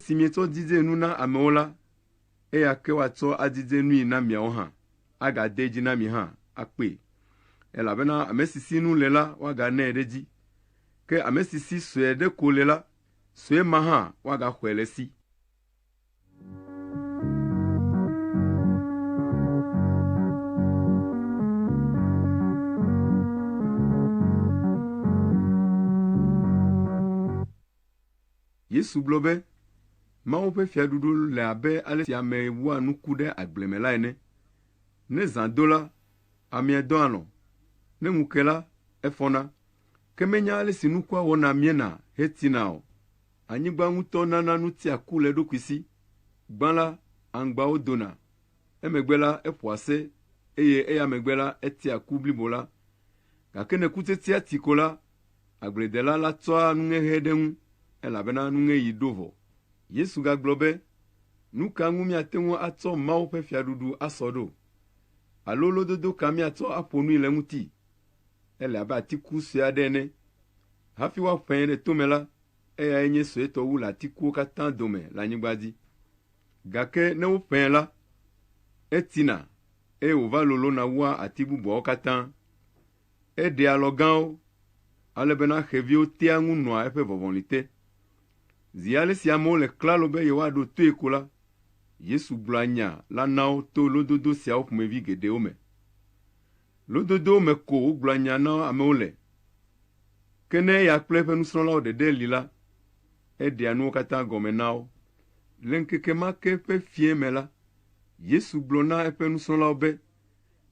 Si mietsɔ didzee nu na amewo la, eya ke woatsɔ adidze nui na miawo hã, agadee dzi na mi hã akpee. Elabena ame si si nu le la, woaganɛ ɖe edzi, ke ame si si sue ɖe ko le la, sue ma hã woagaxɔe le esi. Yesu gblɔ be, Mawu ƒe fiaɖuɖu le abe ale si ame wua nuku ɖe agble me la ene. Ne zã do la, amea dɔ alɔ̃, ne ŋu ke la, efɔna, ke menya ale si nukua wɔna miena hetina o. Anyigba ŋutɔ nana nutia ku le eɖokui si. Gbã la, aŋgbawo dona, emegbe la, eƒoa se, eye eya megbe la, etia ku blibo la. Gake ne kutetea ti ko la, Agbledela la tsɔa nuŋeɣe ɖe ŋu, elabena nuŋeɣi ɖo vɔ. Yesu gagblɔ be, Nu ka ŋu míate ŋu atsɔ Mawu ƒe Fiaɖuɖu asɔ ɖo? Alo lododo ka míatsɔ aƒo nui le eŋuti? Ele abe atiku sue aɖe ene. Hafi woaƒãe ɖe tome la, eyae nye suetɔ wu le atikuwo katã dome le anyigba dzi. Gake ne woƒãe la, etsina, eye wòva lolõna wua ati bubuawo katã. Eɖea alɔ gãwo, ale bena xeviwo tea ŋu nɔa eƒe vɔvɔli te. Zi ale si amewo le klalo be yewoaɖo toe ko la, Yesu gblɔa nya la na wo to lododo siawo ƒomevi geɖewo me. Lododowo me ko wogblɔa nya na amewo le. Ke ne eya kple eƒe nusrɔ̃lawo ɖeɖe li la, eɖea nuwo katã gɔme na wo. Le ŋkeke ma ke ƒe fiẽ me la, Yesu gblɔ na eƒe nusrɔ̃lawo be,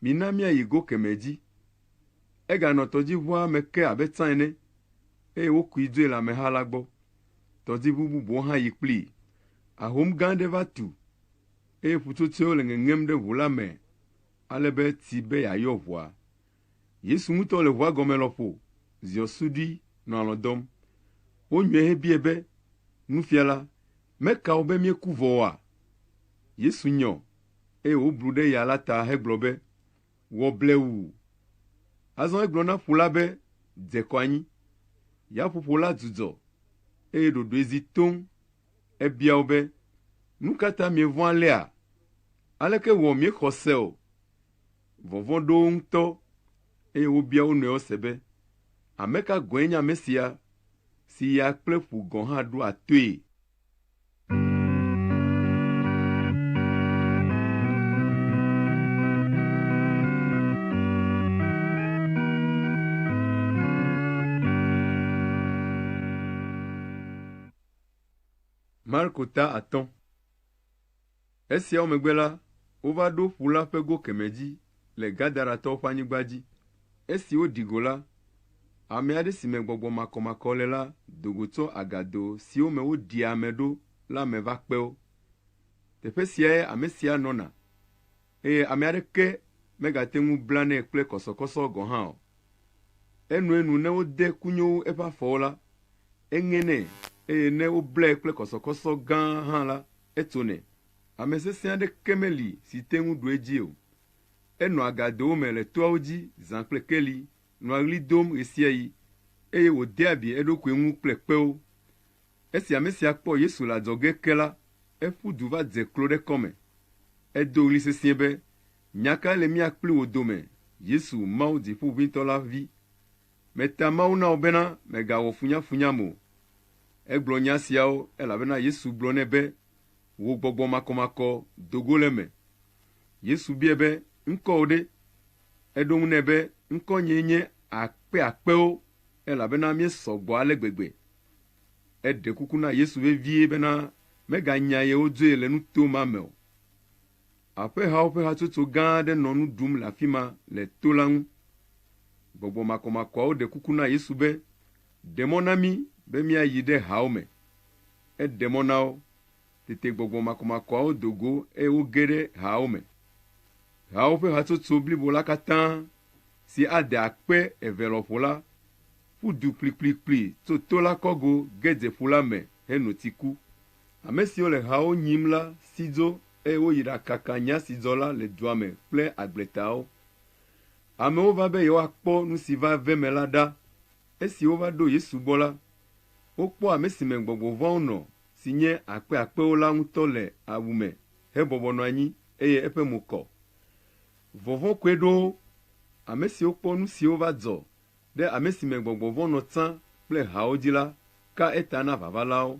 Mina míayi go kemɛ dzi. Eganɔ tɔdziʋua me ke abe tsã ene, eye wokui dzoe le ameha la gbɔ. Tɔdziʋu bubuwo hã yi kplii. Ahom gã aɖe va tu, eye ƒutsotsoewo le ŋeŋem ɖe ʋu la me ale be eti be yeayɔ ʋua. Yesu ŋutɔ le ʋua gɔme lɔƒo ziɔ suɖui nɔ alɔ̃ dɔm. Wonyɔe hebiae be, Nufiala, Meka wò be míeku vɔ oa? Yesu nyɔ, eye wòblu ɖe ya la ta hegblɔ be, Wɔ blewu! Azɔ egblɔ na ƒu la be, Dze kɔ anyi. Yaƒoƒo la dzudzɔ, eye ɖoɖoe zi toŋ. Ebia wo be, Nu ka ta mievɔ̃ alea? Aleke wɔ miexɔ se o? Vɔvɔ̃ ɖo wo ŋutɔ, eye wobia wo nɔewo se be, Ame ka gɔ̃e nye ame sia, si ya kple ƒu gɔ̃ hã ɖoa toe? Marko ta atɔ̃. Esiawo megbe la, wova ɖo ƒu la ƒe go kemɛ dzi le Gadaratɔwo ƒe anyigba dzi. Esi woɖi go la, ame aɖe si me gbɔgbɔ makɔmakɔ le la do go tso agado siwo me woɖia ame ɖo la me va kpe wo. Teƒe siae ame sia nɔna, eye ame aɖeke megate ŋu blanɛ kple kɔsɔkɔsɔ gɔ̃ hã o. Enoe nu ne wode kunyowu eƒe afɔwo la, eŋenɛ, eye ne woblae kple kɔsɔkɔsɔ gã hã la, Etso nɛ. Ame sesẽ aɖeke meli si te ŋu ɖu edzi o. Enɔa agadowo me le toawo dzi zã kple keli, nɔa ɣli dom ɣesiaɣi, eye wòdea bie eɖokui ŋu kple kpewo. Esi ame sia kpɔ Yesu le adzɔge ke la, eƒu du va dze klo ɖe kɔme. Edo ɣli sesĩe be, Nya kae le mía kpli wò dome, Yesu, Mawu Dziƒoʋĩtɔ la Vi? Meta Mawu na wò bena mègawɔ funyafunyam o. Egblɔ nya siawo elabena Yesu gblɔ nɛ be, Wò gbɔgbɔ makɔmakɔ do go le eme. Yesu biae be, Ŋkɔwò ɖe? Eɖo eŋu nɛ be, Ŋkɔnyee nye Akpeakpewo, elabena míesɔ gbɔ ale gbegbe. Eɖe kuku na Yesu vevie bena meganya ye wodzoe le nuto ma me o. Aƒehawo ƒe hatsotso gã aɖe nɔ nu ɖum le afi ma le to la ŋu. Gbɔgbɔ makɔmakɔawo ɖe kuku na Yesu be, Ɖe mɔ na mí be míayi ɖe haawo me. Eɖe mɔ na wo. Tete gbɔgbɔ makɔmakɔawo do go eye woge ɖe haawo me. Haawo ƒe hatsotso blibo la katã, si ade akpe eve lɔƒo la, ƒu du kplikplikpli tso to la kɔgo ge dze ƒu la me heno tsi ku. Ame siwo le hawo nyim la si dzo eye woyi ɖakaka nya si dzɔ la le dua me kple agbletawo. Amewo va be yewoakpɔ nu si va ve eme la ɖa. Esi wova ɖo Yesu gbɔ la, wokpɔ ame si me gbɔgbɔ vɔ̃awo nɔ, si nye akpe akpewo la ŋutɔ le awu me hebɔbɔ nɔ anyi, eye eƒe mo kɔ. Vɔvɔ̃ koe ɖo wo. Ame siwo kpɔ nu siwo va dzɔ Ɖe ame si me gbɔgbɔ vɔ̃ nɔ tsã kple hawo dzi la ka eta na vavalawo.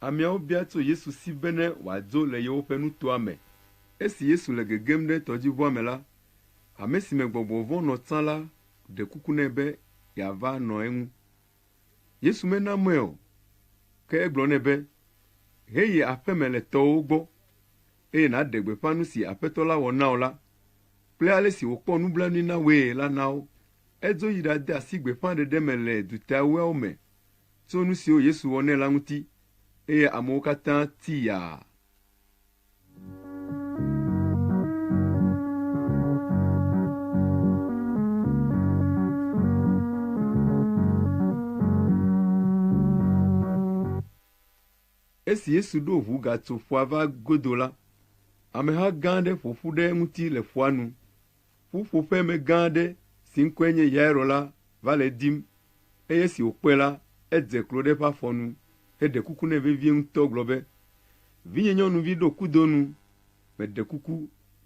Ameawo bia tso Yesu si bene wòadzo le yewoƒe nutoa me. Esi Yesu le gegem ɖe tɔdziʋua me la, ame si me gbɔgbɔ vɔ̃ nɔ tsã la ɖe kuku nɛ be yeava nɔ eŋu. Yesu mena mɔe o, ke egblɔ nɛ be, Heyi aƒeme le tɔwòwo gbɔ, eye nàɖe gbeƒã nu si Aƒetɔ la wɔ na wò la kple ale si wòkpɔ nublanui na wòe la na wo. Edzo yi ɖade asi gbeƒãɖeɖe me le duta ewoawo me tso nu siwo Yesu wɔ nɛ la ŋuti, eye amewo katã ti yaa. Esi Yesu ɖo ʋu gatso ƒua va godo la, ameha gã aɖe ƒo ƒu ɖe eŋuti le ƒua nu. Ƒuƒoƒemegã aɖe si ŋkɔe nye Yairo la va le edim, eye esi wòkpɔe la, edze klo ɖe eƒe afɔ nu heɖe kuku nɛ vevie ŋutɔ gblɔ be, Vinyenyɔnuvi, ɖo kudo nu, meɖe kuku,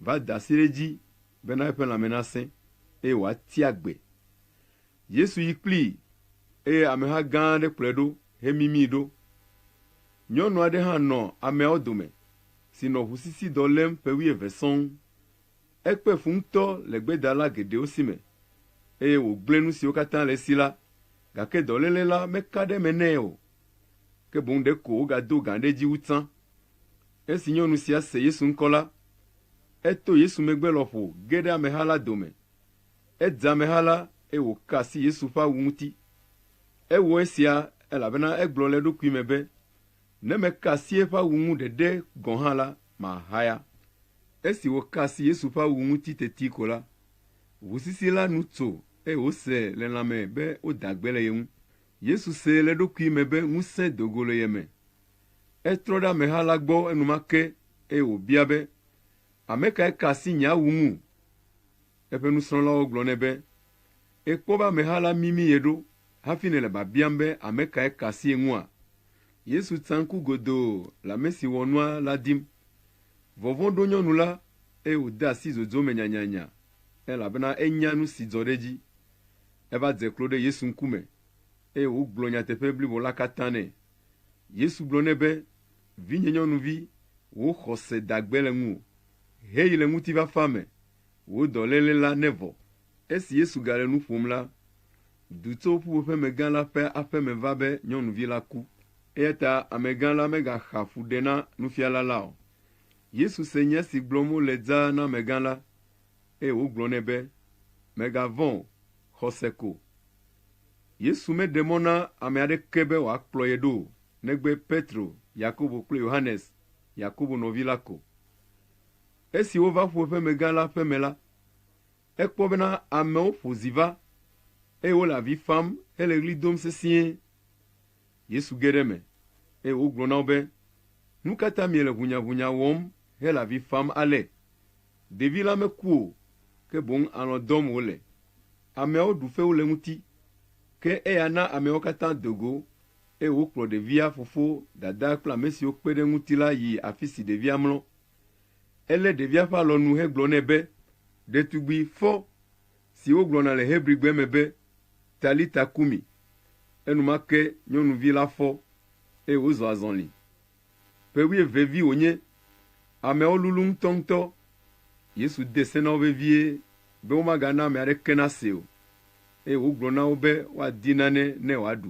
va da asi ɖe edzi bena eƒe lãme nasẽ, eye wòati agbe. Yesu yi kplii, eye ameha gã aɖe kplɔe ɖo hemimii ɖo. Nyɔnu aɖe hã nɔ ameawo dome si nɔ ʋusisidɔ lém ƒe wuieve sɔŋ. Ekpe fu ŋutɔ le gbedala geɖewo si me, eye wògblẽ nu siwo katã le esi la, gake dɔléle la meka ɖe eme nɛ o, ke boŋ ɖe ko wògado gã ɖe edzi wu tsã. Esi nyɔnu sia se Yesu ŋkɔ la, eto Yesu megbe lɔƒo ge ɖe ameha la dome. Edze ameha la, eye wòka asi Yesu ƒe awu ŋuti. Ewɔ esia elabena egblɔ le eɖokui me be, Ne meka asi eƒe awu ŋu ɖeɖe gɔ̃ hã la, Mahaya. Esi wòka asi Yesu ƒe awu ŋuti teti ko la, ʋu sisi la nu tso, eye wòse le lãme be woda gbe le ye ŋu. Yesu se le eɖokui me be ŋusẽ do go le ye me. Etrɔ ɖe ameha la gbɔ enumake, eye wòbia be, Ame kae ka asi nye awu ŋu? Eƒe nusrɔ̃lawo gblɔ nɛ be, Èkpɔ be ameha la mimi ye ɖo hafi nèle biabiam be ame kae ka asi ye ŋua? Yesu tsa ŋku godoo le ame si wɔ nua la dim. Vɔvɔ̃ ɖo nyɔnu la, eye wòde asi zodzo me nyanyanya, elabena enya nu si dzɔ ɖe edzi. Eva dze klo ɖe Yesu ŋkume, eye wògblɔ nyateƒe blibo la katã nɛ. Yesu gblɔ nɛ be, Vinyenyɔnuvi, wò xɔse da gbe le ŋuwò. Heyi le ŋutifafa me Wò dɔléle la nevɔ. Esi Yesu gale nu ƒom la, du tso ƒuƒoƒemegã la ƒe aƒe me va be nyɔnuvi la ku. Eyata amegã la megaxa fu ɖe na nufiala la o. Yesu se nya si gblɔm wole dzaa na amegã la, eye wògblɔ nɛ be, Mègavɔ̃ o, xɔse ko. Yesu meɖe mɔ na ame aɖeke be wòakplɔ ye ɖo o, negbe Petro, Yakobo kple Yohanes, Yakobo nɔvi la ko. Esi wova ƒuƒemegã la ƒe me la, ekpɔ bena amewo ƒo zi va, eye wole avi fam hele ɣli dom sesĩe. Yesu ge ɖe eme, eye wògblɔ na wo be, Nu ka ta miele ʋunyaʋunya wɔm hele avi fam ale? Ɖevi la meku o, ke boŋ alɔ̃ dɔm wòle. Ameawo ɖu fewu le eŋuti. Ke eya na ameawo katã do go, eye wokplɔ ɖevia fofo, dadaa kple amesiwo kpe ɖe eŋuti la yi afisi ɖevia mlɔ. Elé ɖevia ƒe alɔnu hegblɔ nɛ be, Ɖetugbui, fɔ! si wogblɔna le Hebrigbe me be, Talita kumi. Enumake nyɔnuvi la fɔ, eye wòzɔ azɔli. Ƒe wuieve vi wònye. Ameawo lulũ ŋutɔŋutɔ. Yesu de se na wo vevie be womagana ame aɖeke nasee o, eye wògblɔ na wo be woadi nane ne wòaɖu.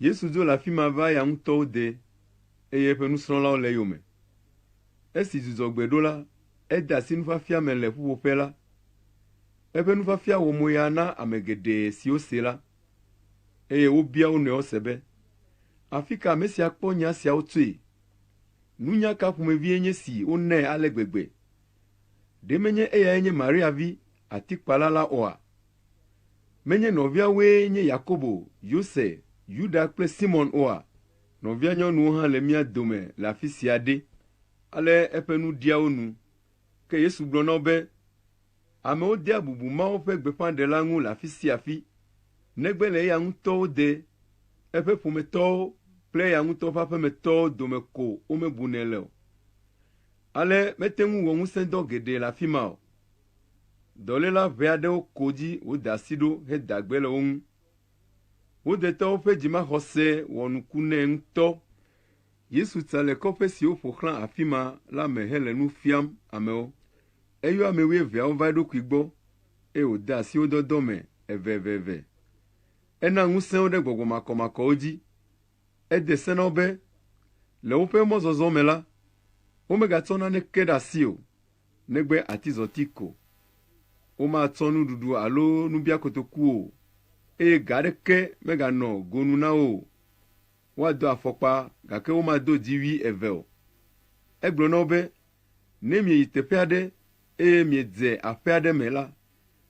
Yesu dzo le afi ma va eya ŋutɔwo dee, eye eƒe nusrɔ̃lawo le eyome. Esi dzudzɔgbe ɖo la, ede asi nufiafia me le ƒuƒoƒe la. Eƒe nufiafia wɔ moya na ame geɖe siwo see la, eye wobia wo nɔewo se be, Afika ame sia kpɔ nya siawo tsoe? Nunya ka ƒomevie nye si wonae ale gbegbe? Ɖe menye eyae nye Maria vi, Atikpala la oa? Menye nɔviawoe nye Yakobo, Yose, Yuda kple Simɔn oa? Nɔvianyɔnuwo hã le mía dome le afi sia ɖe! Ale eƒe nu ɖia wo nu. Ke Yesu gblɔ na wo be, Amewo dea bubu Mawu ƒe gbeƒãɖela ŋu le afi sia afi, negbe le eya ŋutɔ wo de, eƒe ƒometɔwo kple eya ŋutɔ ƒe aƒemetɔwo dome ko womebunɛ le o. Ale mete ŋu wɔ ŋusẽdɔ geɖe le afi ma o. Dɔléla ʋɛ aɖewo ko dzi wode asi ɖo heda gbe le wo ŋu. Wo detɔ woƒe dzimaxɔse wɔ nuku nɛ ŋutɔ. Yesu tsa le kɔƒe siwo ƒo xlã afi ma la me hele nu fiam amewo. Eyɔ ame wuieveawo va eɖokui gbɔ, eye wòde asi wo dɔdɔ me eveveve. Ena ŋusẽ wo ɖe gbɔgbɔ makɔmakɔwo dzi. Ede se na wo be, le woƒe mɔzɔzɔ me la, womegatsɔ naneke ɖe asi o, negbe atizɔti ko. Womatsɔ nuɖuɖu alo nubiakotoku o, eye ga aɖeke meganɔ go nu na wo o. Woado afɔkpa, gake womado dziwui eve o. Egblɔ na wo be, Ne mieyi teƒe aɖe eye miedze aƒe aɖe me la,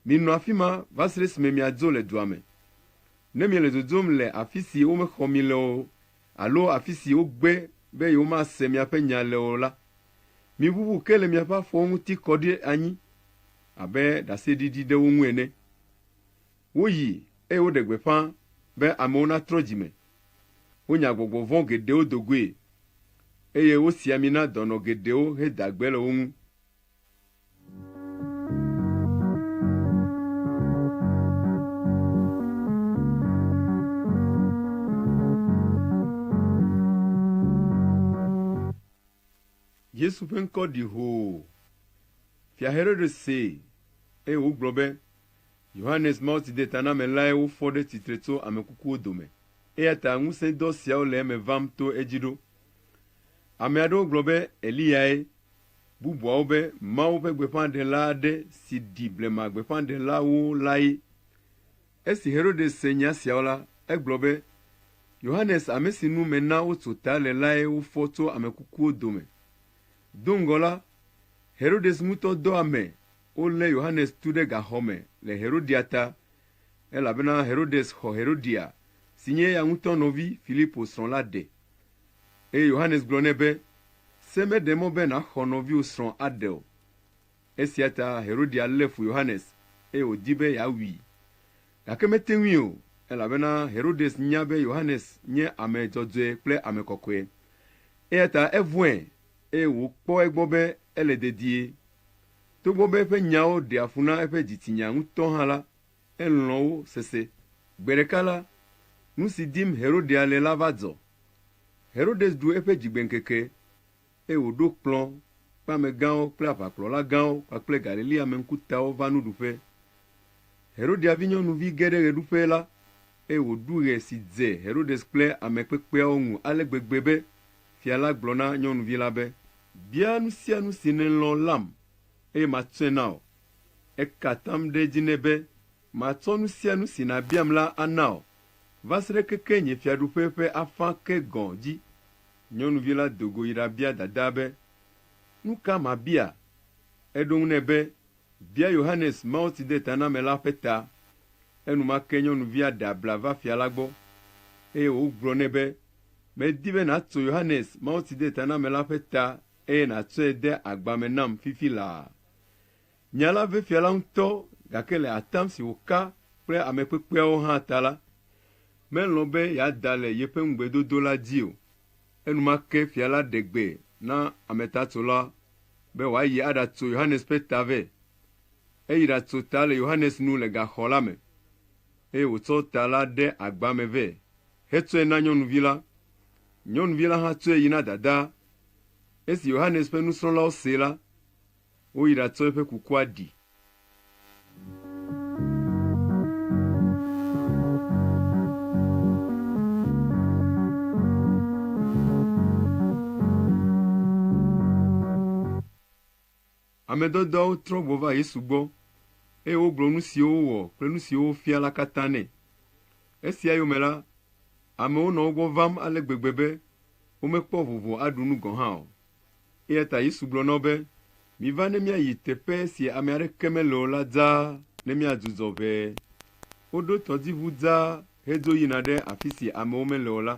minɔ afi ma va se ɖe esime miadzo le dua me. Ne miele dzodzom le afi si womexɔ mi le o alo afi si wogbe be yewomase miaƒe nya le o la, miʋuʋu ke le miaƒe afɔwo ŋuti kɔ ɖi anyi abe ɖaseɖiɖi ɖe wo ŋu ene. Woyi, eye woɖe gbeƒã be amewo natrɔ dzi me. Wonya gbɔgbɔ vɔ̃ geɖewo do goe, eye wosi ami na dɔnɔ geɖewo heda gbe le wo ŋu. Yesu ƒe ŋkɔ ɖi hoo. Fia Herode see, eye wògblɔ be, Yohanes Mawutsidetanamelae wofɔ ɖe tsitre tso ame kukuwo dome, eya ta ŋusẽdɔ siawo le eme vam to edzi ɖo. Ame aɖewo gblɔ be Eliyae bubuawo be Mawu ƒe gbeƒãɖela aɖe si ɖi blema gbeƒãɖelawo lae. Esi Herodes se nya siawo la, egblɔ be, Yohanes ame si nu mena wotso ta le lae wofɔ tso ame kukuwo dome. Do ŋgɔ la, Herodes ŋutɔ dɔ ame wolé Yohanes tu ɖe gaxɔ me le Herodia ta, elabena Herodes xɔ Herodia, si nye eya ŋutɔ nɔvi Filipo srɔ̃ la ɖe. Eye Yohanes gblɔ nɛ be, Se meɖe mɔ be nàxɔ nɔviwò srɔ̃ aɖe o. Esia ta Herodia lé fu Yohanes, eye wòdi be yeawui. Gake mete ŋui o, elabena Herodes nya be Yohanes nye ame dzɔdzɔe kple ame kɔkɔe. Eya ta evɔ̃e, eye wòkpɔ egbɔ be ele dedie. Togbɔ be eƒe nyawo ɖea fu na eƒe dzitsinya ŋutɔ hã la, Elɔ̃ wo sese. Gbe ɖeka la, nu si dim Herodea le la va dzɔ. Herodes ɖu eƒe dzigbeŋkeke, eye wòɖo kplɔ̃ kple amegãwo kple aʋakplɔla gãwo kpakple Galilea-me ŋkutawo va nuɖuƒe. Herodea vinyɔnuvi ge ɖe ɣeɖuƒe la, eye wòɖu ɣe si dze Herodes kple ame kpekpeawo ŋu ale gbegbe be fia la gblɔ na nyɔnuvi la be, Bia nu sia nu si nèlɔ̃ lam, eye matsɔe na wò. Eka atam ɖe edzi nɛ be, Matsɔ nu sia nu si nàbiam la ana wò, va se ɖe keke nye fiaɖuƒe ƒe afã ke gɔ̃ dzi. Nyɔnuvi la do go yi ɖabia dadaa be, Nu ka mabia? Eɖo eŋu nɛ be, Bia Yohanes Mawutsidetanamela ƒe ta. Enumake nyɔnuvia ɖe abla va fia la gbɔ, eye wògblɔ nɛ be, Medi be nàtso Yohanes Mawutsidetanamela ƒe ta eye nàtsɔe de agba me nam fifi laa. Nya la ve fia la ŋutɔ, gake le atam si wòka kple ame kpekpeawo hã ta la, melɔ̃ be yeada le yeƒe ŋugbedodo la dzi o. Enumake fia la ɖe gbe na ametatsola be wòayi aɖatso Yohanes ƒe ta vɛ. Eyi ɖatso ta le Yohanes nu le gaxɔ la me, eye wòtsɔ ta la ɖe agba me vɛ hetsɔe na nyɔnuvi la. Nyɔnuvi la hã tsɔe yi na dadaa. Esi Yohanes ƒe nusrɔ̃lawo see la, Woyi ɖatsɔ eƒe kukua ɖi. Ame dɔdɔawo trɔ gbɔ va Yesu gbɔ, eye wogblɔ nu siwo wowɔ kple nu siwo wofia la katã nɛ. Esia yome la, amewo nɔ wo gbɔ vam ale gbegbe be womekpɔ vovo aɖu nu gɔ̃ hã o. Eya ta Yesu gblɔ na wo be, Miva ne míayi teƒe si ame aɖeke mele o la dzaa ne míadzudzɔ ʋɛ. Woɖo tɔdziʋu dzaa hedzo yina ɖe afi si amewo mele o la.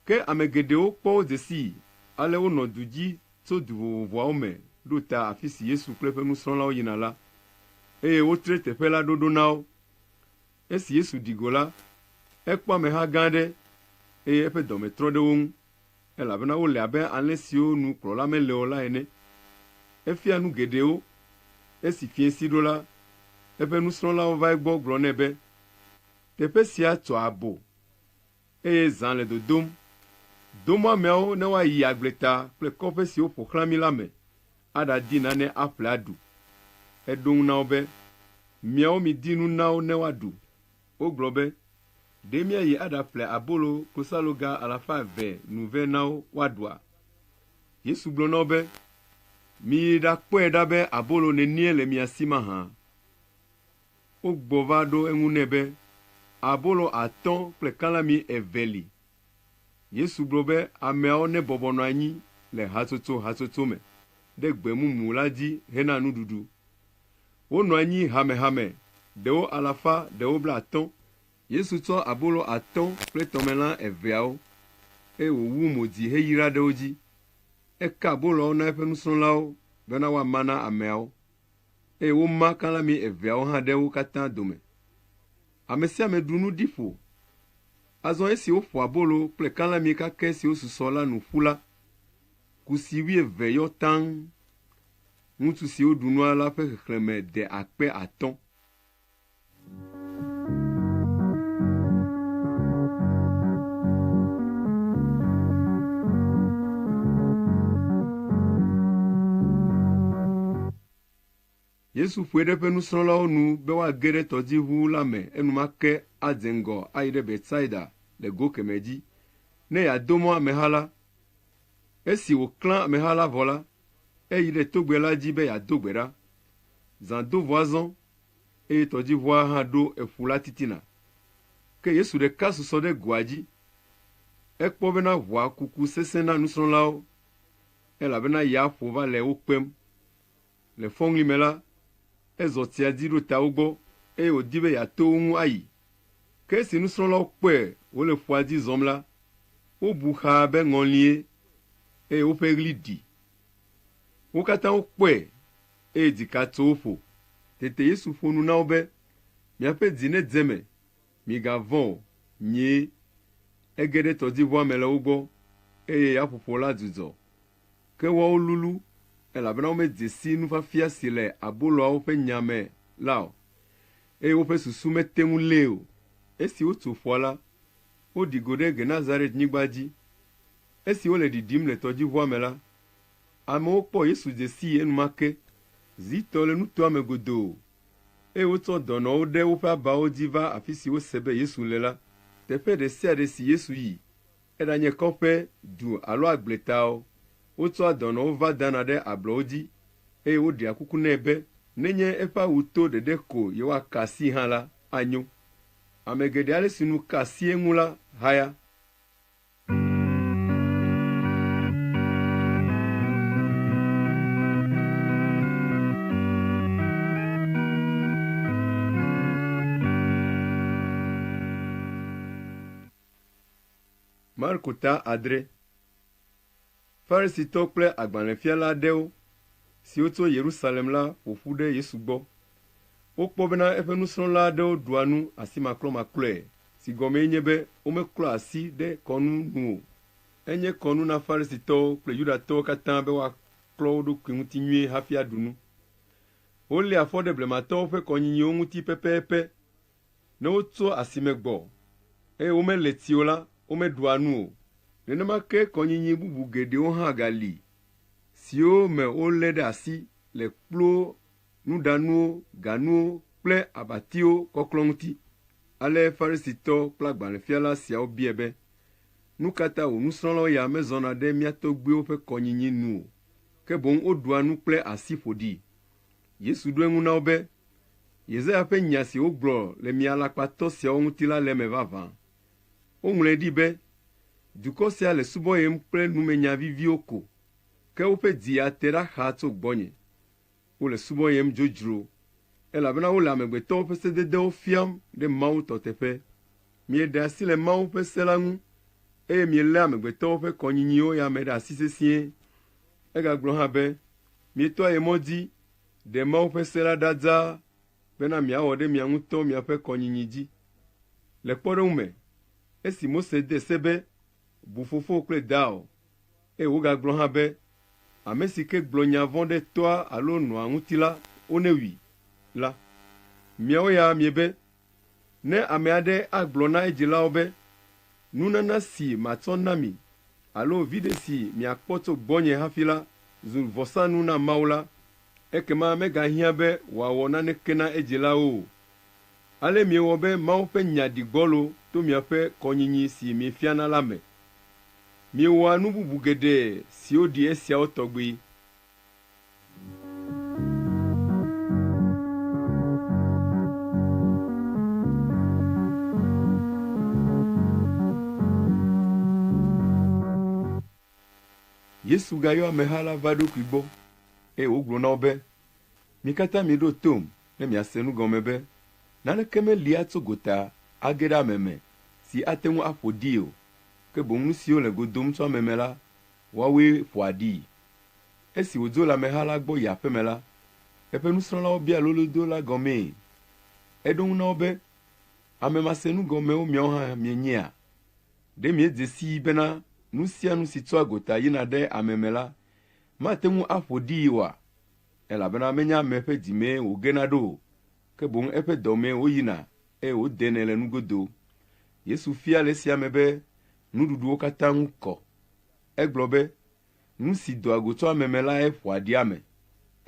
Ke ame geɖewo kpɔ wo dze sii, ale wonɔ du dzi tso du vovovoawo me ɖo ta afi si Yesu kple eƒe nusrɔ̃lawo yina la, eye wotre teƒe la ɖoɖo na wo. Esi Yesu ɖi go la, ekpɔ ameha gã aɖe, eye eƒe dɔme trɔ ɖe wo ŋu, elabena wole abe alẽ siwo nu kplɔla mele o la ene. Efia nu geɖewo. Esi fiẽ si ɖo la, eƒe nusrɔ̃lawo va egbɔ gblɔ nɛ be, Teƒe sia tsɔ abo, eye zã le dodom. Do mɔ ameawo ne woayi agbleta kple kɔƒe siwo ƒo xlã mí la me aɖadi nane aƒle aɖu. Eɖo ŋu na wo be, Miawo midi nu na wo ne woaɖu. Wogblɔ be, Ɖe míayi aɖaƒle abolo klosaloga alafa eve nu vɛ na wo woaɖua? Yesu gblɔ na wo be, Miyi ɖakpɔe ɖa be abolo nenie le mia si mahã. Wogbɔ va ɖo eŋu nɛ be, Abolo atɔ̃ kple kalami eve li. Yesu gblɔ be ameawo nebɔbɔ nɔ anyi le hatsotso hatsotso me ɖe gbe mumu la dzi hena nuɖuɖu. Wonɔ anyi hamehame, ɖewo alafa, ɖewo blaatɔ̃. Yesu tsɔ abolo atɔ̃ kple tɔmelã eveawo, eye wòwu mo dzi heyra ɖe wo dzi. Eka aboloawo na eƒe nusrɔ̃lawo bena woama na ameawo, eye woma kalãmi eveawo hã ɖe wo katã dome. Ame sia ame ɖu nu ɖi ƒo. Azɔ esi woƒo abolo kple kalãmi kakɛ siwo susɔ la nu ƒu la, kusi wuieve yɔ taŋ. Ŋutsu siwo ɖu nua la ƒe xexlẽme de akpe atɔ̃. Yesu ƒoe ɖe eƒe nusrɔ̃lawo nu be woage ɖe tɔdziʋu la me enumake adze ŋgɔ ayi ɖe Betsaida le go kemɛ dzi, ne yeado mɔ ameha la. Esi wòklã ameha la vɔ la, Eyi ɖe togbɛ la dzi be yeado gbe ɖa. Zã do ʋua zɔ, eye tɔdziʋua hã ɖo eƒu la titina. Ke Yesu ɖeka susɔ ɖe goa dzi. Ekpɔ bena ʋua kuku sesẽ na nusrɔ̃lawo, elabena ya ƒo va le wo kpem. Le fɔŋli me la, ezɔ tsiadzi ɖo ta wo gbɔ, eye wòdi be yeato wo ŋu ayi. Ke esi nusrɔ̃lawo kpɔe wòle ƒua dzi zɔm la, wobu xaa be ŋɔlie, eye woƒe ɣli ɖi. Wo katã wokpɔe, eye dzika tso wo ƒo. Tete Yesu ƒo nu na wo be, Miaƒe dzi nedze eme, migavɔ̃ o, nyee. Ege ɖe tɔdziʋua me le wo gbɔ, eye yaƒoƒo la dzudzɔ. Ke woawo lulũ, elabena womedze si nufiafia si le aboloawo ƒe nya me la o. Eye woƒe susu mete ŋu lée o. Esi wotso ƒua la, woɖi go ɖe Genesaret-nyigba dzi. Esi wole ɖiɖim le tɔdziʋua me la, amewo kpɔ Yesu dze sii enumake, zi tɔ le nutoa me godoo, eye wotsɔ dɔnɔwo ɖe woƒe abawo dzi va afi si wose be Yesu le la. Teƒe ɖe sia ɖe si Yesu yi Eɖanye kɔƒe, du alo agble taɔ, wotsɔa dɔnɔwo va dana ɖe ablɔwo dzi, eye woɖea kuku nɛ be nenye eƒe awu to ɖeɖe ko yewoaka asii hã la, anyo. Ame geɖe ale si nu ka asi eŋu la haya. Marko ta adre. Farisitɔ kple agbalẽfiala aɖewo siwo tso Yerusalem la ƒo ƒu ɖe Yesu gbɔ. Wokpɔ bena eƒe nusrɔ̃la aɖewo ɖua nu asimakplɔmakplɔe, si gɔmee nye be womeklɔa asi ɖe kɔnu nu o. Enye kɔnu na Farisitɔwo kple Yudatɔwo katã be woaklɔ wo ɖokui ŋuti nyuie hafi aɖu nu. Woléa fɔ ɖe blematɔwo ƒe kɔnyinyiwo ŋuti pɛpɛpɛ. Ne wotso asime gbɔ, eye womele ti o la, womeɖua nu o. Nenema ke kɔnyinyi bubu geɖewo hã gali, siwo me wolé ɖe asi le kpluwo, nuɖanuwo, ganuwo, kple abatiwo kɔklɔ ŋuti. Ale Farisitɔ kple agbalẽfiala siawo biae be, Nu ka ta wò nusrɔ̃lawo ya mezɔna ɖe mía tɔgbuiwo ƒe kɔnyinyi nu o, ke boŋ woɖua nu kple asi ƒoɖi? Yesu ɖo eŋu na wo be, Yesaya ƒe nya si wogblɔ le mia alakpatɔ siawo ŋuti la le eme vavã. Woŋlɔe ɖi be, Dukɔ sia le subɔyem kple numenya viviwo ko, ke woƒe dzi ya te ɖa xaa tso gbɔnye. Wole subɔyem dzodzro, elabena wole amegbetɔwo ƒe sededewo fiam ɖe Mawu tɔ teƒe. Mieɖe asi le Mawu ƒe se la ŋu, eye mielé amegbetɔwo ƒe kɔnyinyiwo ya me ɖe asi sesĩe. Egagblɔ hã be, Mietɔ ye mɔ dzi, ɖe Mawu ƒe se la ɖa dzaa bena miawɔ ɖe mia ŋutɔ miaƒe kɔnyinyi dzi. Le kpɔɖeŋu me, esi Mose de se be, Bu fofowò kple dawò, eye wògagblɔ hã be, Ame si ke gblɔ nya vɔ̃ ɖe toa alo nɔa ŋuti la, wonewui! la, miawo ya miebe Ne ame aɖe agblɔ na edzilawo be, Nunana si matsɔ na mi alo viɖe si miakpɔ tso gbɔnye hafi la zu vɔsanu na Mawu la, ekema megahiã be wòawɔ naneke na edzilawo o. Ale miewɔ be Mawu ƒe nya ɖi gbɔlo to miaƒe kɔnyinyi si miefiana la me. Miewɔa nu bubu geɖe siwo ɖi esiawo tɔgbi. Yesu gayɔ ameha la va eɖokui gbɔ, eye wògblɔ na wo be, Mi katã miɖo tom ne miase nu gɔme be, Naneke meli atso gota age ɖe ame me si ate ŋu aƒo ɖii o, ke boŋ nu siwo le go dom tso ame me la, woawoe ƒoa ɖii. Esi wòdzo le ameha la gbɔ yi aƒe me la, eƒe nusrɔ̃lawo bia lolodo la gɔmee. Eɖo eŋu na wo be, Ame masenu gɔmewo miawo hã mienyea? Ɖe miedze sii bena nu sia nu si tsoa gota yina ɖe ame me la, mate ŋu aƒo ɖii oa? Elabena menye ame ƒe dzi mee wògena ɖo o, ke boŋ eƒe dɔ mee wòyina eye wòdenɛ le nugodo. Yesu fia le esia me be nuɖuɖuwo katã ŋu kɔ. Egblɔ be, Nu si doa go tso ame me lae ƒoa ɖi ame,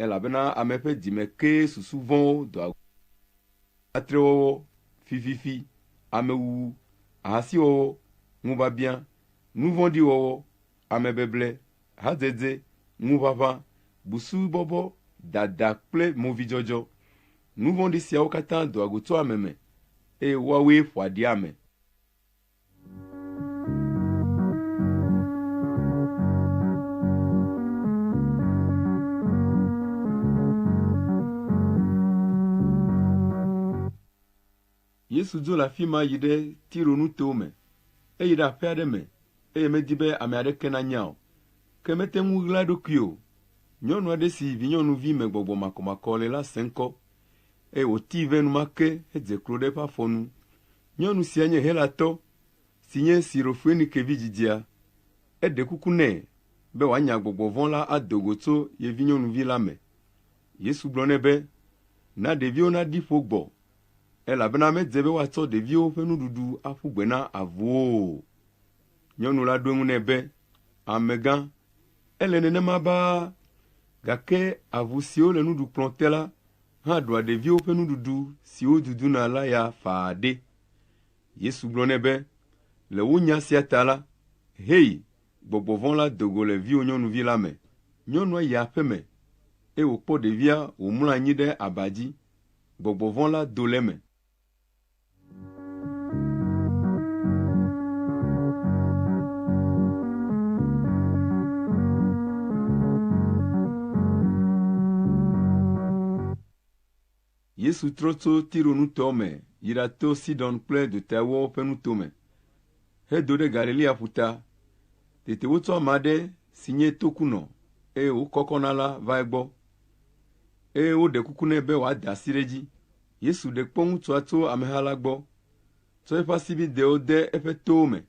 elabena ame ƒe dzi me kee susu vɔ̃wo doa go le, atrewɔwɔ, fififi, amewuwu, ahasiwɔwɔ, ŋubiabiã, nu vɔ̃ɖi wɔwɔ, amebeble, hadzedze, ŋuʋaʋã, busubɔbɔ, dada kple movidzɔdzɔ. Nu vɔ̃ɖi siawo katã doa go tso ame me, eye woawoe ƒoa ɖi ame. Yesu dzo le afi ma yi ɖe Tiro nuto me. Eyi ɖe aƒe aɖe me, eye medi be ame aɖeke nanya o. Ke mete ŋu ɣla eɖokui o. Nyɔnu aɖe si vinyɔnuvi me gbɔgbɔ makɔmakɔ le la se ŋkɔ. eye wòtii vɛ enumake hedze klo ɖe eƒe afɔ nu. Nyɔnu sia nye Helatɔ si nye Sirofoenike vi dzidzia. Eɖe kuku nɛ be wòanya gbɔgbɔ vɔ̃ la ado go tso ye vinyɔnuvi la me. Yesu gblɔ nɛ be, Na ɖeviwo naɖi ƒo gbɔ, elabena medze be woatsɔ ɖeviwo ƒe nuɖuɖu aƒu gbe na avuwo o. Nyɔnu la ɖo eŋu nɛ be, Amegã, ele nenema baa, gake avu siwo le nuɖukplɔ̃ te la hã ɖua ɖeviwo ƒe nuɖuɖu si woduduna la ya faa ɖe? Yesu gblɔ nɛ be, Le wò nya sia ta la, hei, gbɔgbɔ vɔ̃ la do go le viwò nyɔnuvi la me. Nyɔnua yi aƒe me, eye wòkpɔ ɖevia wòmlɔ anyi ɖe aba dzi. Gbɔgbɔ vɔ̃ la do le eme. Yesu trɔ tso Tiro nutɔwo me yi ɖato Sidon kple dotawuawo ƒe nuto me, hedo ɖe Galilea ƒuta. Tete wotsɔ ame aɖe si nye tokunɔ, eye wòkɔkɔ na la va egbɔ, eye woɖe kuku nɛ be wòada asi ɖe edzi. Yesu ɖe kpɔ ŋutsua tso ameha la gbɔ, tsɔ eƒe asibidɛwo de eƒe towo me,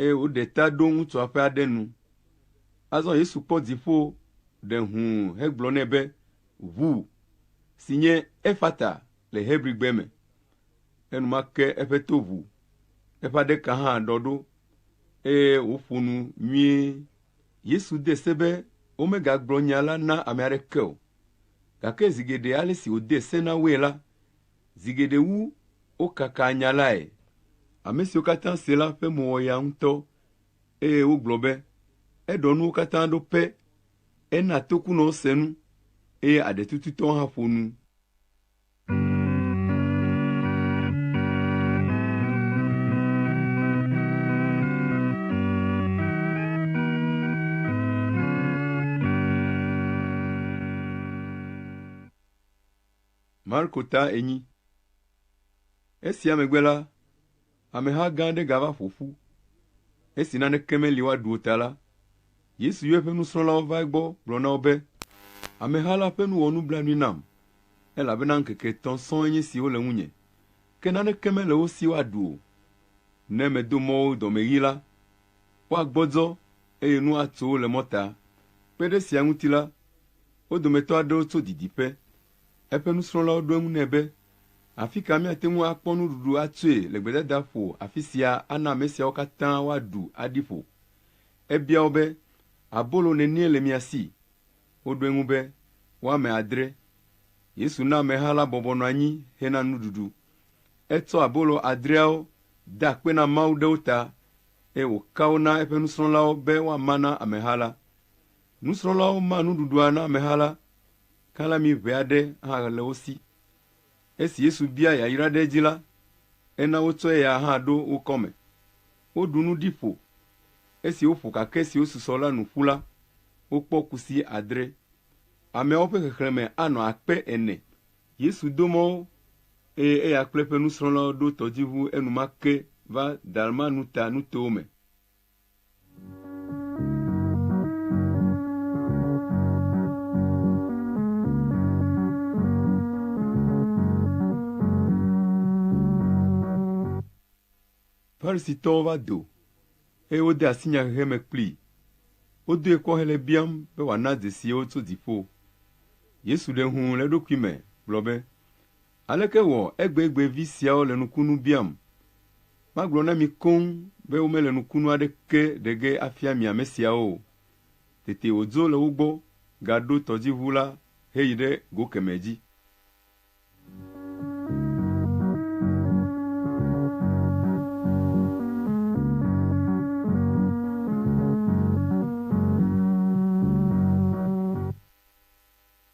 eye wòɖe ta ɖo ŋutsua ƒe aɖe nu. Azɔ Yesu kpɔ dziƒo ɖe hũu hegblɔ nɛ be, Ʋu, si nye Efata le Hebrigbe me. Enumake eƒe to ʋu, eƒe aɖeka hã ɖɔ ɖo, eye wòƒo nu nyuie. Yesu de se be womegagblɔ nya la na ame aɖeke o. Gake zi geɖe ale si wòde se na woe la, zi geɖe wu wokakaa nya lae. Ame siwo katã se la ƒe mo wɔ yaa ŋutɔ, eye wogblɔ be, Eɖɔ nuwo katã ɖo pɛ. Ena tokunɔwo se nu, eye aɖetututɔwo hã ƒo nu. Marko ta enyi. Esia megbe la, Ameha gã aɖe gava ƒo ƒu. Esi naneke meli woaɖu o ta la, Yesu yɔ eƒe nusrɔ̃lawo va egbɔ gblɔ na wo be, Ameha la ƒe nu wɔ nublanui nam, elabena ŋkeke etɔ̃ sɔŋ nye esi wole ŋunye, ke naneke mele wo si woaɖu o. Ne medo mɔ wo dɔmeɣi la, woagbɔdzɔ, eye nu atso wo le mɔta. Kpe ɖe esia ŋuti la, wo dometɔ aɖewo tso didiƒe Eƒe nusrɔ̃lawo ɖo eŋu nɛ be, Afi ka míate ŋu akpɔ nuɖuɖu atsoe le gbedadaƒo afi sia ana ame siawo katã woaɖu aɖi ƒo? Ebia wo be, Abolo nenie le mia si? Woɖo eŋu be, Woame adre. Yesu na ameha la bɔbɔ nɔ anyi hena nuɖuɖu. Etsɔ abolo adreawo da akpe na Mawu ɖe wo ta, eye wòka wo na eƒe nusrɔ̃lawo be woama na ameha la. Nusrɔ̃lawo ma nuɖuɖua na ameha la, Kalami ʋɛ aɖe hã le wo si. Esi Yesu bia yayra ɖe edzi la, ena wotsɔ eya hã ɖo wo kɔme. Woɖu nu ɖi ƒo. Esi woƒo kakɛ siwo susɔ la nu ƒu la, wokpɔ kusi adre. Ameawo ƒe xexlẽme anɔ akpe ene. Yesu do mɔ wo, eye eya kple eƒe nusrɔ̃lawo ɖo tɔdziʋu enumake va Dalmanuta nutowo me. Farisitɔwo va do, eye wode asi nyahehe me kplii. Wodoe kpɔ hele biam be wòana dzesi wo tso dziƒo. Yesu ɖe eŋu le eɖokui me gblɔ be, Aleke wɔ egbegbe vi siawo le nukunu biam? Magblɔ na mi koŋ be womele nukunu aɖeke ɖe ge afia mi ame siawo o. Tete wòdzo le wo gbɔ gaɖo tɔdziʋu la heyi ɖe go kemɛ dzi.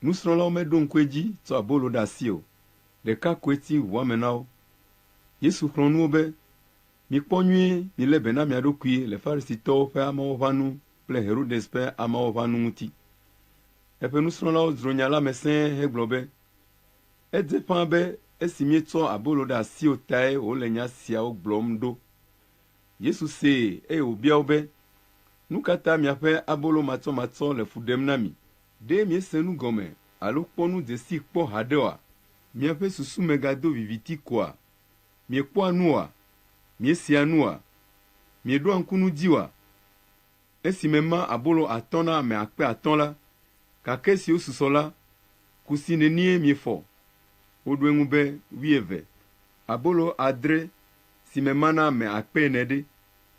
Nusrɔ̃lawo meɖo ŋku edzi tsɔ abolo ɖe asi o, ɖeka koe ti ŋu ame na wo. Yesu xlɔ̃ nu wo be, Mikpɔ nyuie milé be na mia ɖokui le Farisitɔwo ƒe ameawo ƒe anu kple Herodes ƒe ameawo ƒe anu ŋuti. Eƒe nusrɔ̃lawo dzro nya la me sẽe hegblɔ be, Edze ƒãa be esi míetsɔ abolo ɖe asi o tae wòle nya siawo gblɔm ɖo. Yesu see eye wòbia wo be, Nu ka ta miaƒe abolo matsɔmatsɔ le fu ɖem na mi Ɖe miese nu gɔme alo kpɔ nu dzesii kpɔ haɖe oa? Miaƒe susu megado viviti koa? Miekpɔa nu oa? Miesea nu oa? Mieɖoa ŋku nu dzi oa? Esi mema abolo atɔ̃ na ame akpe atɔ̃ la, gake siwo susɔ la, kusi nenie miefɔ? Woɖo eŋu be, Wuieve. Abolo adre, si mema na ame akpe ene ɖe?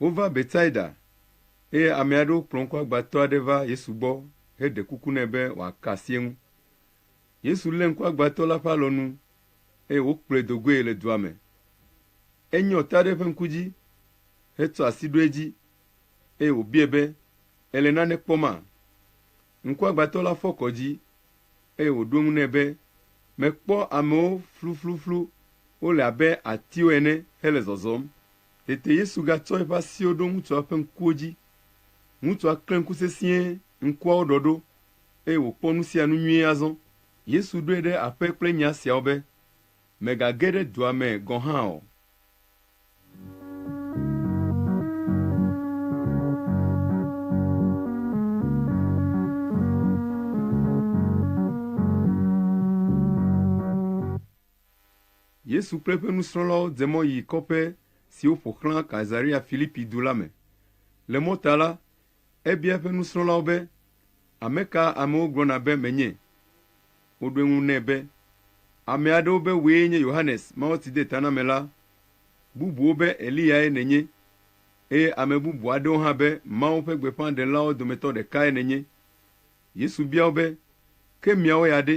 Wova Betsaida, eye ame aɖewo kplɔ ŋkuagbãtɔ aɖe va Yesu gbɔ heɖe kuku nɛ be wòaka asi eŋu. Yesu lé ŋkuagbãtɔ la ƒe alɔnu, eye wòkplɔe do goe le dua me. Enyɔ ta ɖe eƒe ŋku dzi hetsɔ asi ɖo edzi, eye wòbiae be, Èle nane kpɔma? Ŋkuagbãtɔ la fɔ kɔ dzi, eye wòɖo eŋu nɛ be, Mekpɔ amewo flufluflu, wole abe atiwo ene hele zɔzɔm. Tete Yesu gatsɔ eƒe asiwo ɖo ŋutsua ƒe ŋkuwo dzi. Ŋutsua klẽ ŋku sesĩe, ŋkuawo ɖɔ ɖo, eye wòkpɔ nu sia nu nyuie azɔ. Yesu ɖoe ɖe aƒe kple nya siawo be, Mègage ɖe dua me gɔ̃ hã o. Yesu kple eƒe nusrɔ̃lawo dze mɔ yi kɔƒe siwo ƒo xlã Kaesarea Filipi du la me. Le mɔta la, ebia eƒe nusrɔ̃lawo be, Ame ka amewo gblɔna be menye? Woɖo eŋu nɛ be, Ame aɖewo be wòe nye Yohanes Mawutsidetanamela, bubuwo be Eliyae nènye, eye ame bubu aɖewo hã be Mawu ƒe gbeƒãɖelawo dometɔ ɖekae nènye. Yesu bia wo be, Ke miawo ya ɖe?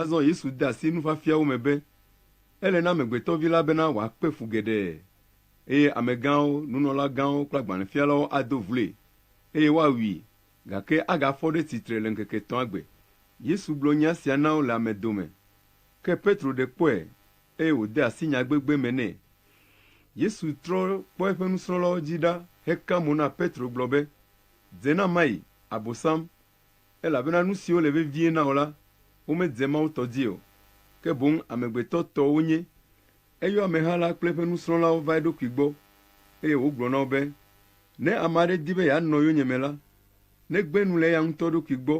Azɔ Yesu de asi nufiafiawo me be, Ele na Amegbetɔ Vi la bena wòakpe fu geɖe, eye amegãwo, nunɔlagãwo kple agbalẽfialawo ado vloe, eye woawui, gake agafɔ ɖe tsitre le ŋkeke etɔ̃a gbe. Yesu gblɔ nya sia na wo le ame dome. Ke Petro ɖe kpɔe, eye wòde asi nya gbegbe me nɛ. Yesu trɔ kpɔ eƒe nusrɔ̃lawo dzi ɖa heka mo na Petro gblɔ be, Dze na mayi, Abosam, Elabena nu siwo le vevie na wò la, womedze Mawu tɔ dzi o, ke boŋ amegbetɔ tɔ wonye. Eyɔ ameha la kple eƒe nusrɔ̃lawo va eɖokui gbɔ, eye wògblɔ na wo be, Ne ame aɖe di be yeanɔ yonyeme la, negbe nu le eya ŋutɔ ɖokui gbɔ,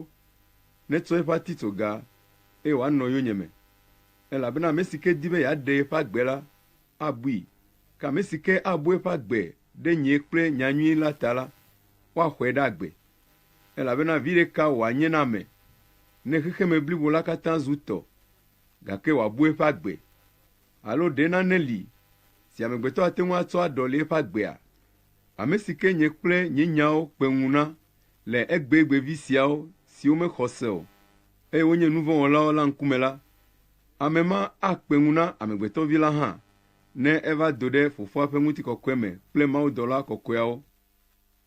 netsɔ eƒe atitsoga, eye wòanɔ yonyeme. Elabena ame si ke di be yeaɖe yeƒe agbe la, abui, ke ame si ke abu eƒe agbe ɖe nye kple nya nyui la ta la, woaxɔe ɖe agbe. Elabena viɖe ka wòanye na ame ne xexeme blibo la katã zu tɔ, gake wòabu eƒe agbe? Alo ɖe nane li si amegbetɔ ate ŋu atsɔ aɖɔli eƒe agbea? Ame si ke nye kple nye nyawo kpe ŋu na le egbegbe vi siawo siwo mexɔ se o, eye wonye nu vɔ̃ wɔlawo la ŋkume la, ame ma akpe ŋu na Amegbetɔ Vi la hã, ne eva do ɖe Fofoa ƒe ŋutikɔkɔe me kple mawudɔla kɔkɔeawo.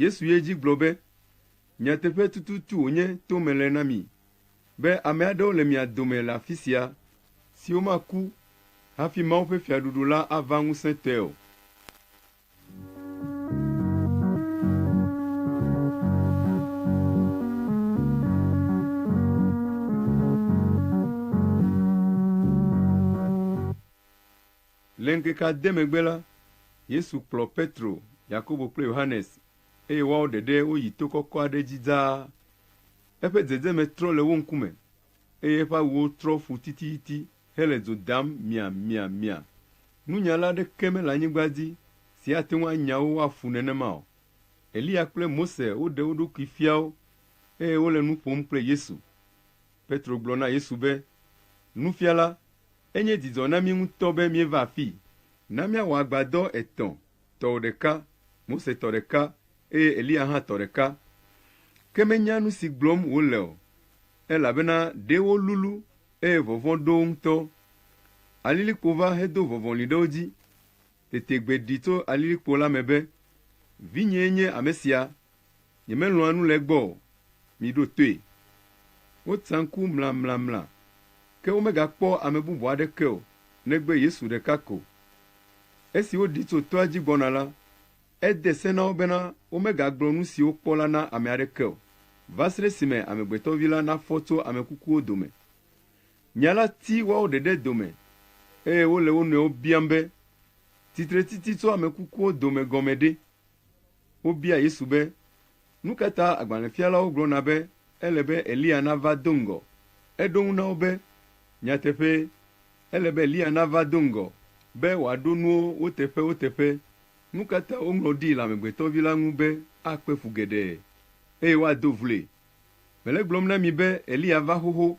Yesu yi edzi gblɔ be, Nyateƒe tututu wònye to mele na mi be ame aɖewo le mia dome le afi sia siwo maku hafi Mawu ƒe Fiaɖuɖu la ava ŋusẽtɔe o. Le ŋkeke ade megbe la, Yesu kplɔ Petro, Yakobo kple Yohanes, eye woawo ɖeɖe woyi to kɔkɔ aɖe dzi dzaa. Eƒe dzedzeme trɔ le wo ŋkume, eye eƒe awuwo trɔ ƒu tititi hele dzo dam miamiamia. Nunyala aɖeke mele anyigba dzi si ate ŋu anya wo woaƒu nenema o. Eliya kple Mose woɖe wo ɖokui fia wo, eye wole nu ƒom kple Yesu. Petro gblɔ na Yesu be, Nufiala, enye dzidzɔ na mí ŋutɔ be míeva afii. Na míawɔ agbadɔ etɔ̃, tɔwò ɖeka, Mose tɔ ɖeka, eye Eliya hã tɔ ɖeka. Ke menya nu si gblɔm wòle o, elabena ɖee wolulu, eye vɔvɔ̃ ɖo wo ŋutɔ. Alilikpo va hedo vɔvɔli ɖe wo dzi, Tete gbe ɖi tso alilikpo la me be, Vinyee nye ame sia, nyemelɔ̃a nu le egbɔ o, miɖo toe. Wotsa ŋku mlamlamla, ke womegakpɔ ame bubu aɖeke o negbe Yesu ɖeka ko. Esi woɖi tso toa dzi gbɔna la, ede se na wo bena womegagblɔ nu si wokpɔ la na ame aɖeke o, va srɛ esime Amegbetɔvi la nafɔ tso ame kukuwo dome. Nya la ti woawo ɖeɖe dome, eye wole wo nɔewo biam be, Titretiti tso ame kukuwo dome gɔme ɖe? Wobia Yesu be, Nu ka ta agbalẽfialawo gblɔna be ele be Eliya nava do ŋgɔ? Eɖo eŋu na wo be, Nyateƒee, ele be Eliya nava do ŋgɔ be wòaɖo nuwo wo teƒewo teƒe. Nu ka ta woŋlɔ ɖi le Amegbetɔ Vi la ŋu be akpe fu geɖe, eye woado vloe? Mele egblɔm na mi be Eliya va xoxo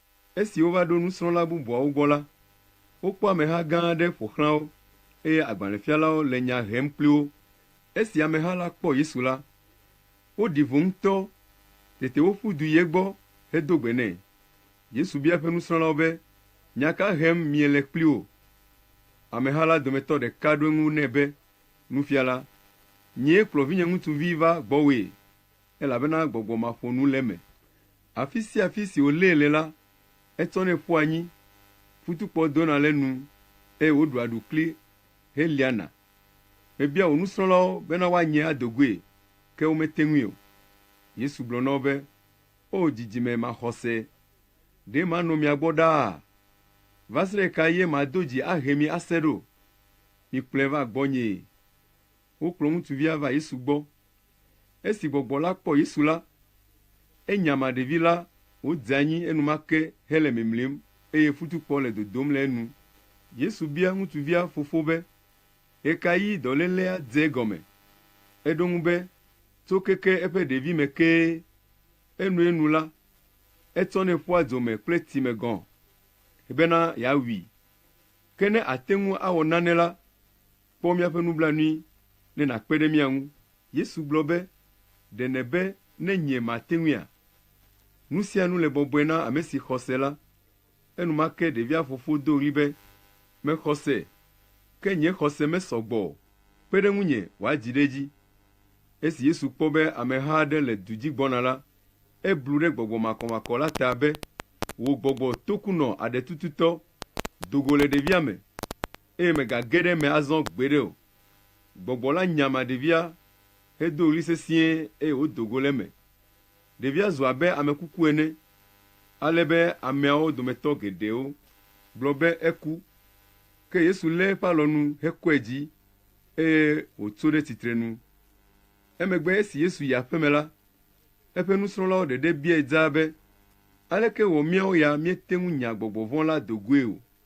Esi wova ɖo nusrɔ̃la bubuawo gbɔ la, wokpɔ ameha gã aɖe ƒo xlã wo, eye agbalẽfialawo le nya hem kpli wo. Esi ameha la kpɔ Yesu la, woɖi vo ŋutɔ. Tete woƒu du yi egbɔ hedo gbe nɛ. Yesu bia eƒe nusrɔ̃lawo be, Nya ka hem miele kpli wo? Ameha la dometɔ ɖeka ɖo eŋu nɛ be, Nufiala, nyee kplɔ vinye ŋutsuvi va gbɔwòe, elabena gbɔgbɔ maƒonu le eme. Afi sia afi si wòlée le la, etsɔnɛ ƒua anyi, futukpɔ dona le enu, eye wòɖua ɖukli heliana. Mebia wò nusrɔ̃lawo bena woanyee ado goe, ke womete ŋui o. Yesu gblɔ na wo be, O dzidzime maxɔse! Ɖe manɔ mia gbɔ ɖaa? Va se ɖe ɣekaɣie mado dzi ahe mi ase ɖo? Mikplɔe va gbɔnyee. Wokplɔ ŋutsuvia va Yesu gbɔ. Esi gbɔgbɔ la kpɔ Yesu la, enya ma ɖevi la wòdze anyi enumake hele mimlim eye futukpɔ le dodom le enu. Yesu bia ŋutsuvia fofo be, Ɣekaɣi dɔlélea dze egɔme? Eɖo eŋu be, Tso keke eƒe ɖevime kee. Enɔe nu la, etsɔnɛ ƒua dzo me kple tsime gɔ̃ bena yeawui. Ke ne àte ŋu awɔ nane la, Kpɔ míaƒe nublanui ne nàkpe ɖe mía ŋu. Yesu gblɔ be, Ɖe nèbe ne nye mate ŋuia? Nu sia nu le bɔbɔe na ame si xɔ se la. Enumake ɖevia fofo do ɣli be, Mexɔ se, ke nye xɔse mesɔ gbɔ o, kpe ɖe ŋunye wòadzi ɖe edzi. Esi Yesu kpɔ be ameha aɖe le du dzi gbɔna la, eblu ɖe gbɔgbɔ makɔmakɔ la ta be, Wò gbɔgbɔ tokunɔ aɖetututɔ, do go le ɖevia me. Eye megage ɖe eme azɔ gbeɖe o. Gbɔgbɔ la nya ma ɖevia hedo ɣli sesĩe eye wòdo go le eme. Ɖevia zu abe ame kuku ene ale be ameawo dometɔ geɖewo gblɔ be eku. Ke Yesu lé eƒe alɔnu hekɔe dzi eye wòtso ɖe tsitrenu. Emegbe esi Yesu yi aƒeme la, eƒe nusrɔ̃lawo ɖeɖe biae dzaa be, Aleke wɔ míawo ya míete ŋu nya gbɔgbɔ vɔ̃ la do goe o?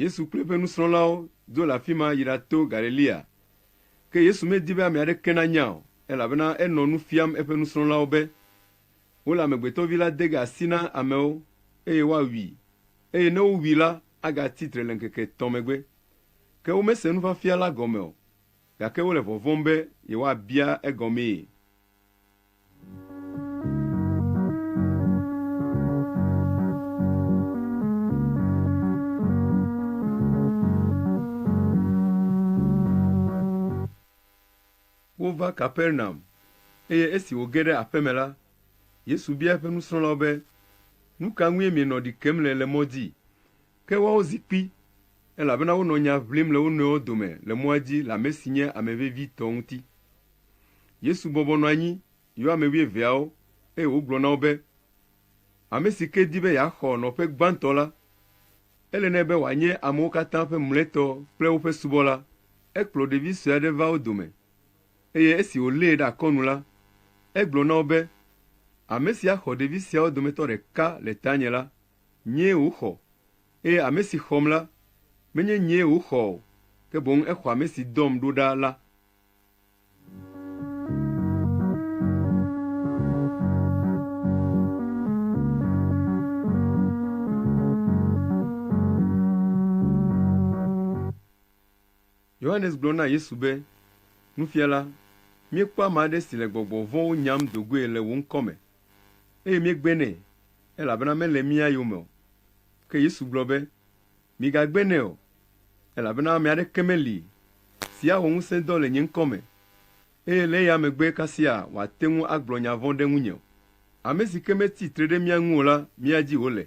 Yesu kple eƒe nusrɔ̃lawo do le afi ma yi ɖato Galilea. Ke Yesu medi be ame aɖeke nanya o, elabena enɔ nu fiam eƒe nusrɔ̃lawo be, Wole Amegbetɔ Vi la de ge asi na amewo, eye woawui, eye ne wowui la, agatsi tre le ŋkeke etɔ̃ megbe. Ke womese nufiafia la gɔme o, gake wole vɔvɔ̃m be yewoabia egɔmee. Wova Kapernaum, eye esi wòge ɖe aƒe me la, Yesu bia eƒe nusrɔ̃lawo be, Nu ka ŋue mienɔ ɖi kem le le mɔ dzi? Ke woawo zi kpi, elabena wonɔ nya ʋlim le wo nɔewo dome le mɔa dzi le ame si nye ame vevitɔ ŋuti. Yesu bɔbɔ nɔ anyi, yɔ ame wuieveawo, eye wògblɔ na wo be, Ame si ke di be yeaxɔ nɔƒe gbãtɔ la, ele nɛ be wòanye amewo katã ƒe mlɔetɔ kple woƒe subɔla. Ekplɔ ɖevi sue aɖe va wo dome, eye esi wòlée ɖe akɔnu la, egblɔ na wo be, Ame si axɔ ɖevi siawo dometɔ ɖeka le tanye la, Nyee wòxɔ, eye ame si xɔm la, menye nyee wòxɔ o, ke boŋ exɔ ame si dɔm ɖo ɖa la. Yohanes gblɔ na Yesu be, Nufiala, míekpɔ ame aɖe si le gbɔgbɔ vɔ̃wo nyam do goe le wò ŋkɔ me, eye míegbe nɛ, elabena mele mía yome o. Ke Yesu gblɔ be, Migagbe nɛ o, elabena ame aɖeke meli si awɔ ŋusẽdɔ le nye ŋkɔ me, eye le eya megbe kasia wòate ŋu agblɔ nya vɔ̃ ɖe ŋunye o. Ame si ke metsi tre ɖe mía ŋu o la, mía dzi wòle.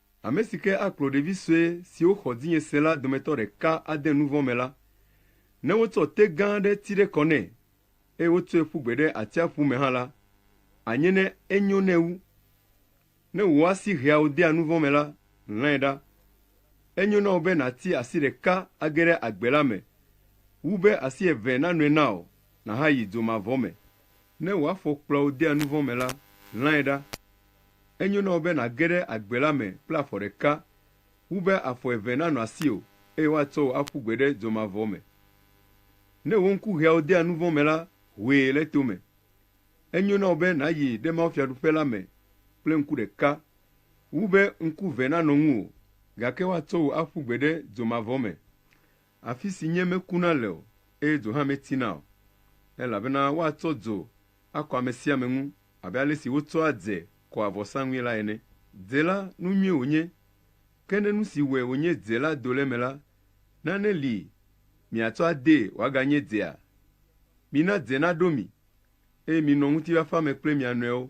Ame si ke akplɔ ɖevi sue siwo xɔ dzinye se la dometɔ ɖeka ade nu vɔ̃ me la, ne wotsɔ te gã aɖe ti ɖe kɔ nɛ, eye wotsɔe ƒu gbe ɖe atsiaƒu me hã la, anye ne enyo nɛ wu. Ne wò asi heawò dea nu vɔ̃ me la, lãe ɖa. Enyo na wò be nàti asi ɖeka age ɖe agbe la me, wu be asi eve nanɔe na wò nàhayi dzo mavɔ me. Ne wò afɔ kplɔa wò dea nu vɔ̃ me la, lãe ɖa. Enyo na wò be nàge ɖe agbe la me kple afɔ ɖeka wu be afɔ eve nanɔ asiwò eye woatsɔ wò aƒu gbe ɖe dzomavɔ me. Ne wò ŋku ʋeawo dea nu vɔ̃ me la, hoe le tome. Enyo na wò be nàyi ɖe mawufiaɖuƒe la me kple ŋku ɖeka wu be ŋku eve nanɔ ŋuwò gake woatsɔ wò aƒu gbe ɖe dzomavɔ me. Afi si nyee mekuna le o, eye dzo hã metsina o. Elabena woatsɔ dzo akɔ ame sia ame ŋu abe ale si wotsɔa dze kɔa vɔsaŋui la ene. Dze la, nu nyui wònye, ke ne nu si wɔe wònye dze la do le eme la, nane li miatsɔ adee wòaganye dzea? Mina dze naɖo mi, eye minɔ ŋutifafa me kple mia nɔewo.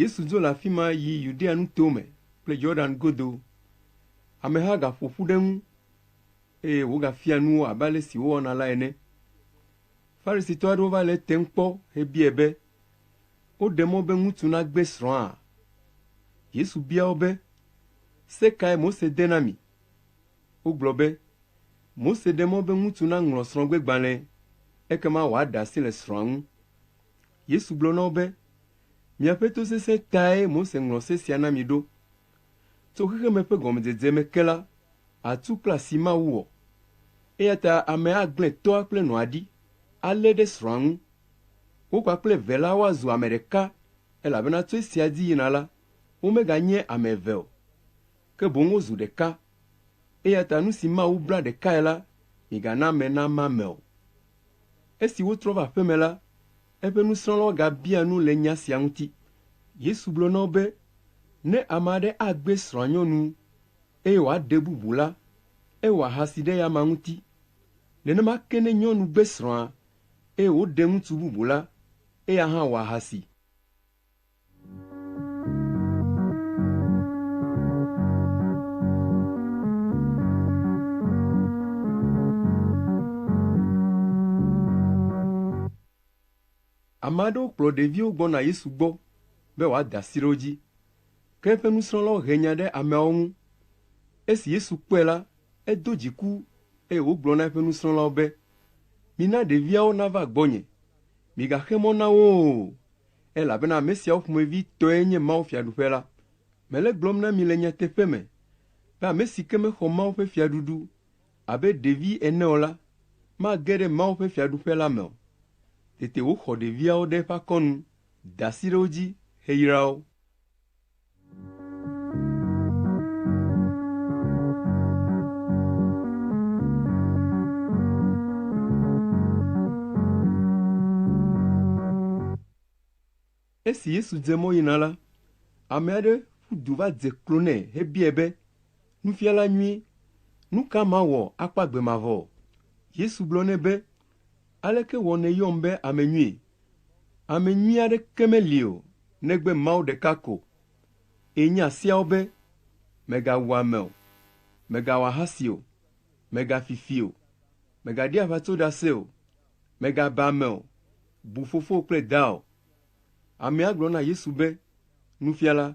Yesu dzo le afi ma yi Yudea nuto me kple Yordan godo. Ameha gaƒo ƒu ɖe eŋu, eye wògafia nu wo abe ale si wowɔna la ene. Farisitɔ aɖewo va le etem kpɔ hebiae be, Woɖe mɔ be ŋutsu nagbe srɔ̃a? Yesu bia wo be, Se kae Mose de na mi? Wogblɔ be, Mose ɖe mɔ be ŋutsu naŋlɔ srɔ̃gbegbalẽ, ekema wòaɖe asi le srɔ̃a ŋu. Yesu gblɔ na wo be, Miaƒe to sesẽ tae Mose ŋlɔ se sia na mi ɖo. Tso xexeme ƒe gɔmedzedze me ke la, atu kple asi Mawu wɔ. Eya ta ame agblẽ tɔa kple nɔa ɖi, alé ɖe srɔ̃a ŋu. Wo kpakple eve la woazu ame ɖeka, elabena tso esia dzi yina la, womeganye ame eve o, ke boŋ wozu ɖeka. Eya ta nu si Mawu bla ɖekae la, migana ame nama ame o. Esi wotrɔ va aƒe me la, eƒe nusrɔ̃lawo gabia nu le nya sia ŋuti. Yesu gblɔ na wo be, Ne ame aɖe agbe srɔ̃anyɔnu, eye wòaɖe bubu la, ewɔ ahasi ɖe eya amea ŋuti. Nenema ke ne nyɔnu gbe srɔ̃a, eye wòɖe ŋutsu bubu la, eya hã wɔ ahasi. Ame aɖewo kplɔ ɖeviwo gbɔna Yesu gbɔ be wòada asi ɖe wo dzi. Ke eƒe nusrɔ̃lawo he nya ɖe ameawo ŋu. Esi Yesu kpɔe la, edo dziku eye wògblɔ na eƒe nusrɔ̃lawo be, “Mina ɖeviawo nava gbɔnye, migaxe mɔ na wo o, elabena ame siawo ƒomevi tɔe nye Mawu Fiaɖuƒe la. Mele gblɔm na mi le nyateƒe me be ame si ke mexɔ Mawu ƒe Fiaɖuɖu abe ɖevi ene o la, mage ɖe Mawu ƒe Fiaɖuƒe la me o. Tete wòxɔ ɖeviawo ɖe eƒe akɔnu, da asi ɖe wo dzi heyra wo. Esi Yesu dze mɔ yina la, ame aɖe ƒu du va dze klo nɛ hebiae be, Nufiala nyui, nu ka mawɔ akpɔ agbe mavɔ? Yesu gblɔ nɛ be, Aleke wɔ nèyɔm be ame nyui? Ame nyui aɖeke meli o negbe Mawu ɖeka ko. Eye nya siawo be, Mègawu ame o, mègawɔ ahasi o, mègafi fi o, mègaɖi aʋatsoɖase o, mègaba ame o, bu fofowò kple dawò. Amea gblɔ na Yesu be, Nufiala,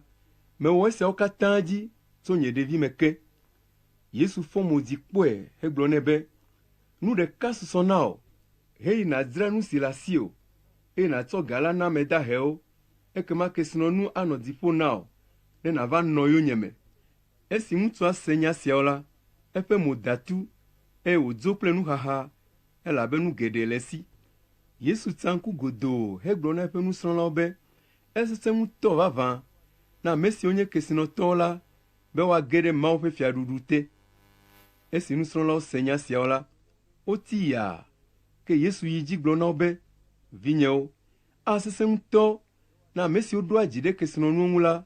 mewɔ esiawo katã dzi tso nye ɖevime ke. Yesu fɔ mo dzi kpɔe hegblɔ nɛ be, Nu ɖeka susɔ na wò, heyi nàdzra nu si le asiwò, eye nàtsɔ ga la na ame dahewo, ekema kesinɔnu anɔ dzi ƒo na wò, ne nàva nɔ yonyeme. Esi ŋutsua se nya siawo la, eƒe mo da tu, eye wòdzo kple nuxaxa, elabe nu geɖe le esi. Yesu tsa ŋku godoo hegblɔ na eƒe nusrɔ̃lawo be, Esesẽ ŋutɔ vavã na ame siwo nye kesinɔtɔwo la be woage ɖe Mawu ƒe Fiaɖuɖu te. Esi nusrɔ̃lawo se nya siawo la, woti yaa, ke Yesu yi edzi gblɔ na wo be, Vinyewo, asesẽ ŋutɔ na ame siwo ɖoa dzi ɖe kesinɔnuwo ŋu la